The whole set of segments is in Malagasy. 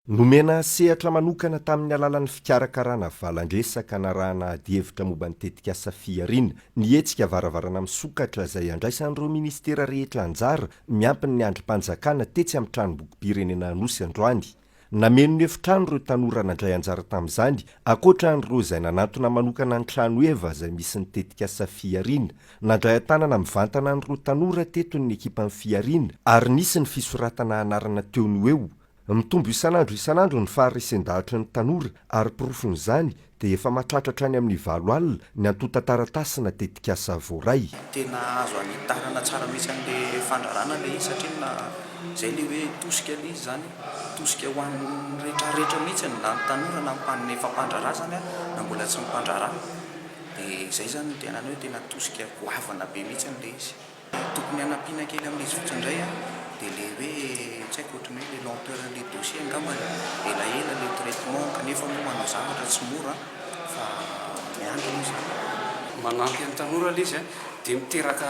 Nomena sehatra manokana tamin'ny alalan'ny fikarakarana valan-dresaka narahana adihevitra momba ny tetikasa Fihariana ny hetsika Varavarana misokatra izay andraisan'ireo minisitera rehetra anjara miampy ny andrim-panjakana tetsy amin'ny Tranombokim-pirenena Anosy androany. Nameno ny efitrano ireo tanora nandray anjara tamin'izany, ankoatra an'ireo izay nanantona manokana ny tranoheva izay misy ny tetikasa Fihariana Nandray an-tanana mivantana ny roa tanora teto ny ekipan'ny Fihariana ary nisy ny fisoratana anarana teo noho eo. Mitombo isan'andro isan'andro ny faharesen-dahatry ny tanora ary porofon'izany dia efa mahatratra hatrany amin'ny valo alina ny antontan-taratasy na tetikasa voaray. Tena azo anitarana tsara mihitsy an'ilay fandrarana ilay izy satria na izay ilay hoe tosika ilay izy izany, tosika ho an'ny rehetrarehetra mihitsy na ny tanora na ny mpandraharaha izany na mbola tsy ny mpandraharaha. Dia izay izany no tena anao hoe tena tosika goavana be mihitsy ilay izy. Dia tokony hanampiana kely amin'ilay izy fotsiny indray an, dia ilay hoe tsy haiko ohatran'ny hoe ilay lenteur an'ilay dossier angamba e, elaela ilay traitement kanefa moa manao zavatra tsy mora fa miandry aloha izany. Manampy an'ny tanora ilay izy an, dia miteraka.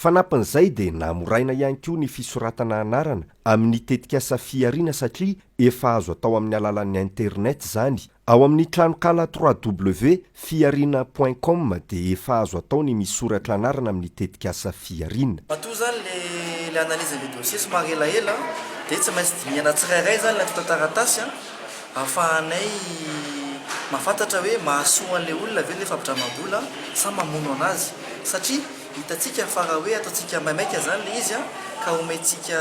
Fanampin'izay dia namoraina ihany koa ny fisoratana anarana amin'ny tetikasa Fihariana satria efa azo atao amin'ny alalan'ny internet izany. Ao amin'ny tranonkala www.fihariana point com dia efa azo atao ny misoratra anarana amin'ny tetikasa Fihariana. Matoa izany ilay analyse ilay dossier somary elaela dia tsy maintsy dinihana tsirairay izany ilay antontan-taratasy ahafahanay mahafantatra hoe mahasoa an'ilay olona ve ilay fampidramam-bola sa mamono an'azy satria Hitantsika fa raha hoe ataontsika maimaika izany ilay izy ka omentsika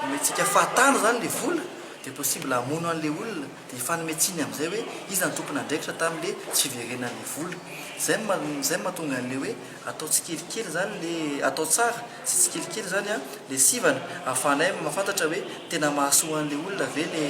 omentsika fahatany izany ilay vola dia possible hamono an'ilay olona dia hifanome tsiny amin'izay hoe iza no tompon'andraikitra tamin'ilay tsy fiverenan'ilay vola. Izay no ma- izay no mahatonga an'ilay hoe atao tsikelikely izany ilay atao tsara sy tsikelikely izany ilay sivana ahafahanay mahafantatra hoe tena mahasoa an'ilay olona ve ilay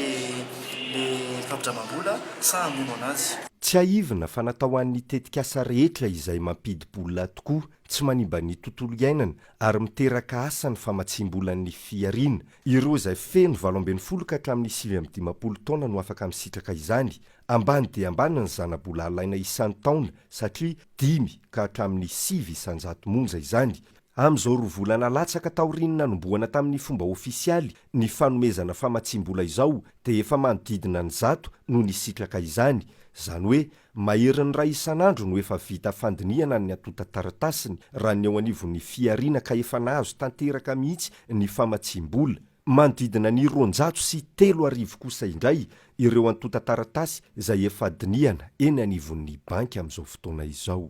ilay fampindramam-bola sa hamono an'azy. Tsiahivina fa natao ho an'ny tetikasa rehetra izay mampidi-bola tokoa, tsy manimba ny tontolo iainana ary miteraka asa ny famatsiam-bolan'ny fihariana. Ireo izay feno valo ambin'ny folo ka hatramin'ny sivy amby dimampolo taona no afaka misitraka izany. Ambany dia ambany ny zana-bola alaina isan-taona satria dimy ka hatramin'ny sivy isan-jato monja izany. Amin'izao roa volana latsaka taorian'ny nanombohana tamin'ny fomba ofisialy ny fanomezana famatsiam-bola izao dia efa manodidina ny zato no nisitraka izany, izany hoe maherin'ny iray isan'andro no efa vita fandinihana ny antontan-taratasiny raha ny eo anivon'ny fihariana ka efa nahazo tanteraka mihitsy ny famatsiam-bola. Manodidina ny roanjato sy telo arivo kosa indray ireo antontan-taratasy izay efa dinihana eny anivon'ny banky amin'izao fotoana izao.